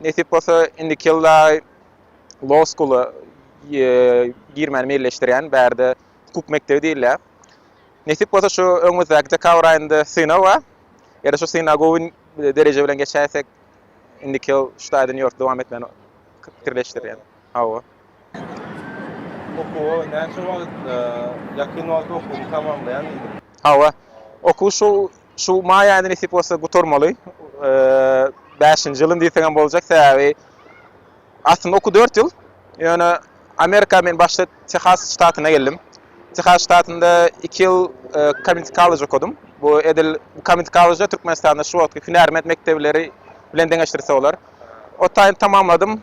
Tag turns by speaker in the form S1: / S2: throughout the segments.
S1: Nesip bolsa, indiki ýylda Law School-a girmäni meýilleşdirýän. Bärde hukuk mekdebi diýilýär. Nesip bolsa, şu öňümizdäki dekabr aýynda synag bar. Eger şu synagy gowy dereje bilen geçäýsek, indiki ýyl şu taýdan ýurtda dowam etmäni pikirleşdirýän. Hawa. Okuwa näçe wagt, ýakyn wagtda
S2: okuwymy tamamlaýan diýdim. Hawa.
S1: Okuw şu şu maý aýynda nesip bolsa gutarmaly. Bäşinji ýylym diýseň hem boljak, sebäbi aslynda okuw dört ýyl. Ýöne Amerika men başda Tehas ştatyna geldim. Tehas ştatynda iki ýyl Community College okadym. Bu edil Community College Türkmenistanda şu wagtky hünärment mekdebleri bilen deňeşdirse bolar. Otaýyny tamamladym.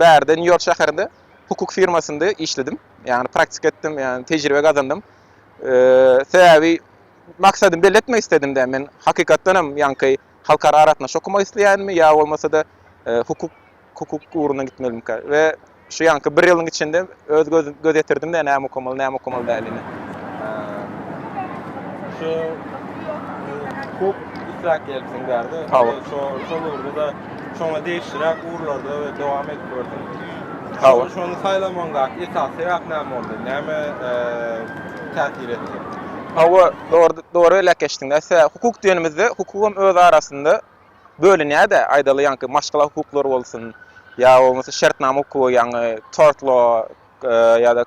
S1: Bärde Nýu-Ýork şäherinde hukuk firmasynda işledim. Ýagny praktika etdim, ýagny tejribe gazandym. Sebäbi maksadymy belli etmek istedim-de, men hakykatdan hem ýaňky halkara aragatnaşyk okamak isleýänmi ýa bolmasa-da hukuk hukuk ugruna gitmelimikä we şu ýaňky bir ýylyň içinde Öz göz ýetirdim-de näme okamaly, näme okamaly dälini.
S2: Şu hukuk israkiýetçilik bärde. Hawa. Şo şol ugurda şoňa degişliräk ugurlarda we dowam edip gördüm. Hawa. Şony saýlamagyňdaky esasy sebäp näme boldy? Näme täsir etdi? Hawa,
S1: dogry dogry elek geçdiň-dä. Hukuk diýenimizde, hukuk hem öz arasynda bölünýär-de, aýdaly, ýaňky maşgala hukuklary bolsun, ýa bolmasa şertnama hukugy, ýaňy tort law ýa-da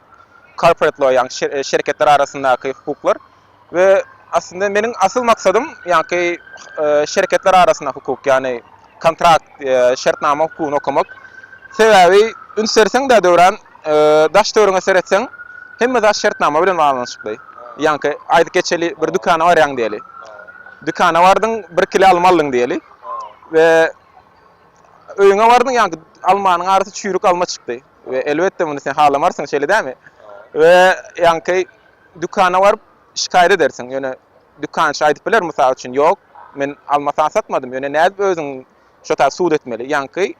S1: corporate law, ýaňy şerketler arasyndaky hukuklar we aslynda meniň asyl maksadym ýaňky şerketler arasynda hukuk, ýagny kontrakt, şertnama hukugyny okamak. Sebäbi üns berseň-dä Döwran, daş-töweregiňe seretseň, hemme zat şertnama bilen baglanyşykly. Ýaňky aýdyp geçeli, bir dükana barýaň diýeli. Dükana bardyň, bir kile alma aldyň diýeli. We öýüňe bardyň, ýaňky almanyň arasy çüýrük alma çykdy. We elbetde muny sen halamarsyň, şeýle dälmi? We ýaňky dükana baryp şikaýat edersiň. Ýöne dükançy aýdyp biler, mysal üçin, Ýok, men alma saňa satmadym. Ýöne nädip özüň şo taýda subut etmeli? Ýaňky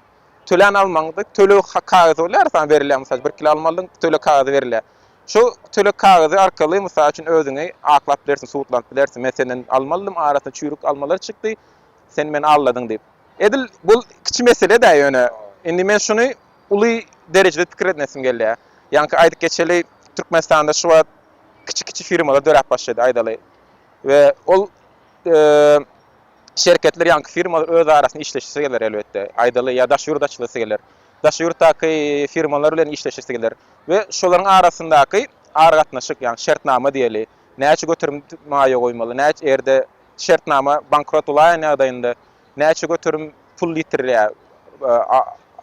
S1: tölän almaňda töleg kagyzy bolýar saňa berilýär. Mysal üçin, bir kilo alma aldyň, töleg kagyzy berilýär. Şu töleg kagyzy arkaly, mysal üçin, özüňi aklap bilersiň, suwutlanyp bilersiň. Men senden alma aldym, arasynda çüýrük almalar çykdy, sen meni aldadyň diýip. Edil bu kiçi mesele-dä ýöne. Indi men şuny uly derejede pikir etmesim gelýär. Ýaňky aýdyp geçeli, Türkmenistanda şu wagt kiçi-kiçi firmalar döräp başlady, aýdaly. We ol. şerketler ýaňky firmalar öz arasynda işleşesi geler elbetde. Aýdaly ýa daş ýurda açylasy geler. Daş ýurtdaky firmalar bilen işleşesi geler we şolaryň arasyndaky aragatnaşyk ýaňy şertnama diýeli. Näçe göterim maýa goýmaly, näçe erde şertnama bankrot bolaýan ýagdaýynda näçe göterim pul ýitirilýär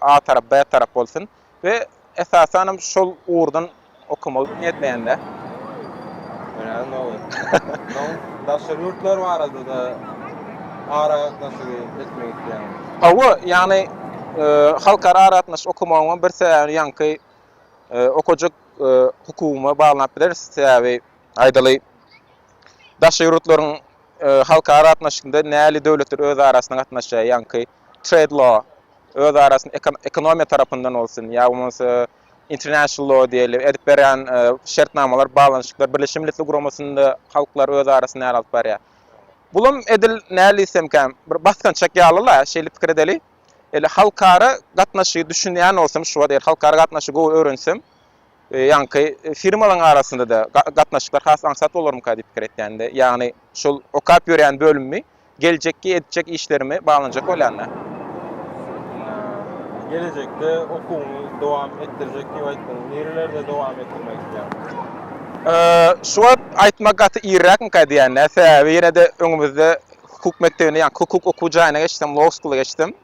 S1: a tarap b tarap bolsun. we esasan hem şol ugurdan okamagy niýetleýänler. Daşary ýurtlar
S2: barada-da aragatnaşygy etmek isleýäňizmi? Hawa, ýagny
S1: halkara aragatnaşyk okamagyň bir sebäbini ýaňky okajak hukugyma baglap bileris. Sebäbi aýdaly, daşary ýurtlaryň halkara aragatnaşykda nähili döwletler öz arasynda gatnaşýar ýaňky? trade law, öz arasynda ekonomiýa tarapyndan bolsun, ýa bolmasa international law diýeli edip berýän şertnamalar, baglanyşyklar, Birleşen Milletler Guramasynda halklar öz arasynda näl alyp barýar. Bulam edil näl diýsemkä, bir basgançak ýaly-la, şeýle pikir edeli. Eli halkara gatnaşygy düşünýän bolsam, şu wagt eger halkara gatnaşygy gowy öwrensem, ýaňky firmalaryň arasynda-da gatnaşyklar has aňsat bolarmyka diýip pikir etýän-de. Ýagny şol okap ýörýän bölümimi. Geljekki edijek işlerimi baglanyjak bolýanda. Gelejekde okuwyňy dowam etdirjek
S2: diýip aýtdyň. Nirelerde dowam etdirmek isleýäň?
S1: Şu wagt aýtmak gaty irräkmika edýän-dä. Sebäbi ýene-de öňümizde hukuk mekdebine, ýa hukuk okuw jaýyna geçsem, law school-a geçsem,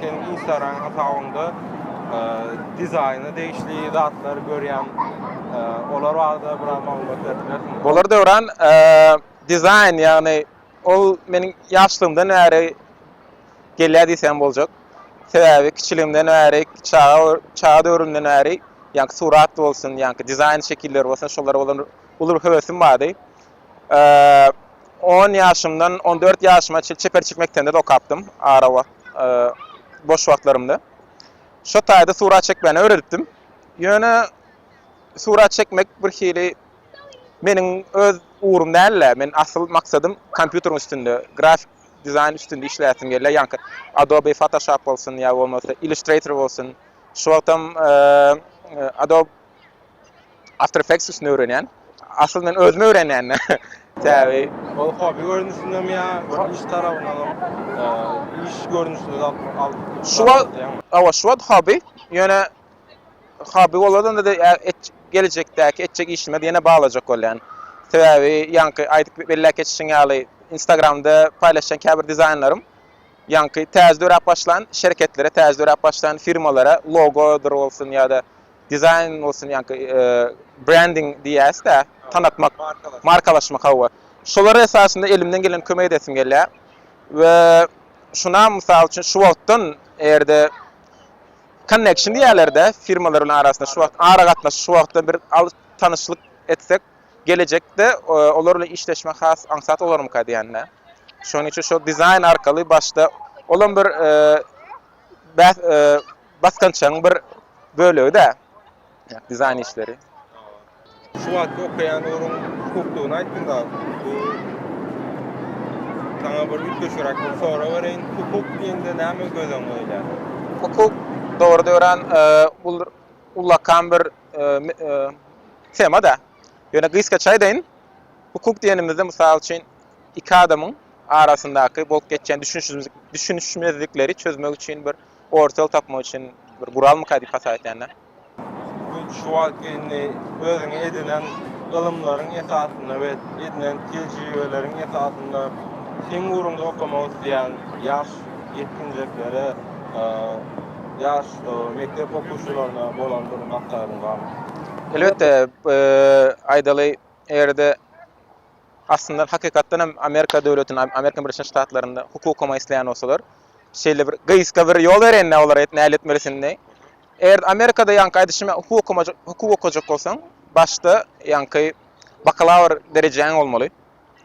S2: Seniň instagram hasabyňda dizaýna degişli zatlary görýän. Olar barada biraz maglumat berip bilersiňizmi? Bolar Döwran,
S1: dizaýn, ýagny ol meniň ýaşlygymdan bäri gelýär diýsem boljak. Sebäbi kiçiligimden bäri, çaga çaga döwrümden bäri, ýa surat bolsun, ýa dizaýn şekilleri bolsun, şolara bolan uly bir höwesim bardy. On ýaşymdan on dört ýaşyma çenli çeperçilik mekdebinde-de okapdym, ara wagt, boş wagtlarymda. Şo taýda surat çekmäni öwredipdim. Ýöne surat çekmek birhili meniň öz ugrum däl-de, men asyl maksadym kompýuteriň üstünde, grafik dizaýn üstünde işläsim gelýär, ýaňky Adobe Photoshop bolsun ýa bolmasa Illustrator bolsun, şu wagtam Adobe. After Effects üstünde öwrenýän. Aslynda men özüm öwrenýän-de. Sebäbi ol hobby
S2: görnüşindem ýa bir iş tarabyndanam, iş görnüşinde zat alyp. Şu wagt, hawa,
S1: şu wagt hobby. Ýöne hobby boladanda-da geljekdäki etjek işime ýene baglajak bolýan. Sebäbi ýaňky aýdyp belläp geçişiň ýaly, Instagramda paýlaşýan käbir dizaýnlarym ýaňky täze döräp başlan şerketlere, täze döräp başlan firmalara logodyr bolsun ýa-da Dizaýn bolsun ýaňky brending diýýäs-dä, tanatmak, markalaşmak hawa. Şolara esasynda elimden geleni kömek edesim gelýär. We şunam mysal üçin şu wagtdan eger-de konneksiýon diýýärler-dä firmalaryň arasynda şu wagt aragatnaşyk şu wagtdan bir alyp tanyşlyk etsek gelejekde olar bilen işleşmek has aňsat bolarmyka diýän-dä. Şonuň üçin şol dizaýn arkaly başda olam bir bäh basgançagyň bir bölegi-dä dizaýn işleri. Şu
S2: wagtky okaýan ugruň hukuklygyny aýtdyň da, bu saňa bir üýtgeşiräk bir sorag bereýin, hukuk diýende näme göz öňüňe gelýär? Hukuk
S1: dogrudan öran ol ullakan bir tema-da. Ýöne gysgaça aýdaýyn, hukuk diýenimizde, mysal üçin, iki adamyň arasyndaky bolup geçýän düşünişmezlikleri çözmek üçin bir orta ýol tapmak üçin bir guralmyka diýip hasap etýän-de.
S2: Şu wagtky indi özüňe edinen ylymlaryň esasynda we edinen tejribeleriň esasynda seň ugrunda okamak isleýän ýaş ýetginjeklere, ýaş mekdep okuwçylaryna bolan bir maslahatyň barmy? Elbetde,
S1: aýdaly, eger-de. Aslynda hakykatdan hem Amerika döwletinde, Amerika Birleşen Ştatlarynda hukukama isleýän bolsalar, şeýle bir gyska bir ýol bereýinler olara nähili etmelisinini. Eger Amerikada ýaňky aýdyşym ýaly hukuk okumajak, hukuk okajak bolsaň, başda ýaňky bakalawr derejäň bolmaly.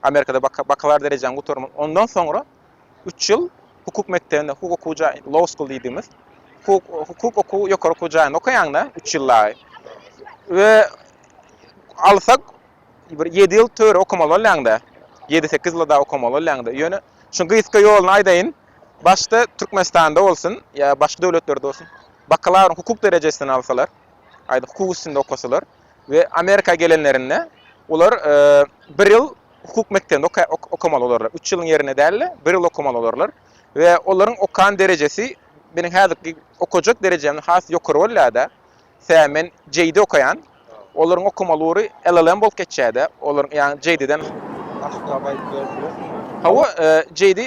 S1: Amerikada bakalawr derejäňi gutarmaly. Ondan soňra üç ýyl hukuk mekdebinde, hukuk okuw jaý, law school diýdimiz, hukuk hukuk okuw ýokary okuw jaýynda okaýaňda üç ýyl dagy. We alsak Bir ýedi ýyl töre okamaly bolýaň-da. Ýedi-sekiz ýyla dagy okamaly bolýaň-da. Ýöne şunuň gysga ýoluny aýdaýyn. Başda Türkmenistanda bolsun ýa başga döwletlerde bolsun, bakalawryň hukuk derejesini alsalar, aýda hukuk üstünde okasalar we Amerika gelenlerinde olar bir ýyl hukuk mekdebinde okamaly bolarlar. Üç ýylyň ýerine däl-de, bir ýyl okamaly bolarlar we olaryň okan derejesi meniň häzirki okajak derejemden has ýokary bolýar-da. Tä men JD okaýan. Olaryň okamaly ugry LLM bolup geçýärdi. Olaryň ýagny JD-den Açyklap aýdyp berip bilersiňiz? Hawa, JD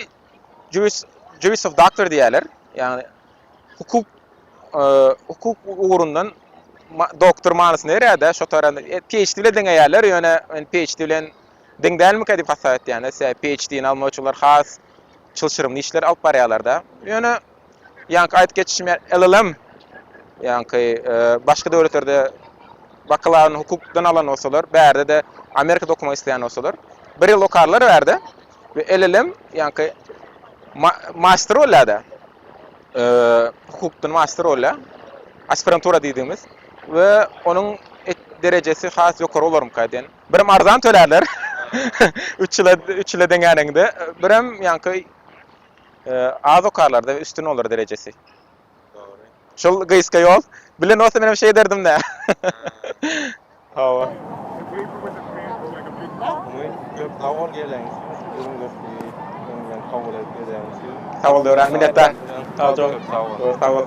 S1: Juris Juris of Doctor diýýärler. Ýagny hukuk hukuk ugrundan doktor manysyny berýär-de, şo taranda PHD bilen deňeýärler, ýöne men PHD bilen deň dälmikä diýip hasap etýän-de, sebäbi PHD-ni almak üçin olar has çylşyrymly işler alyp barýarlar-da. Ýöne Ýaňky aýdyp geçişim ýaly, ýaňky başga döwletlerde bakalawyryny hukukdan alan bolsalar, bärde-de Amerikada okamak isleýän bolsalar, bir ýyl okarlar bärde we LLM, ýaňky master bolýar-da, hukukdan master bolýar, aspirantura diýdigimiz we onuň derejesi has ýokary bolarmyka diýen. Birem arzan tölärler, üç ýyla deňäniňde, birem ýaňky Az okarlarda we üstün bolar derejesi. Dogry.
S2: Şol gysga
S1: ýol bilen bolsa men hem şey ederdim da. Hawa. Sag
S2: bol gelen. Sag bol
S1: Döwran minnetdar.
S2: Sag bol. Sag bol.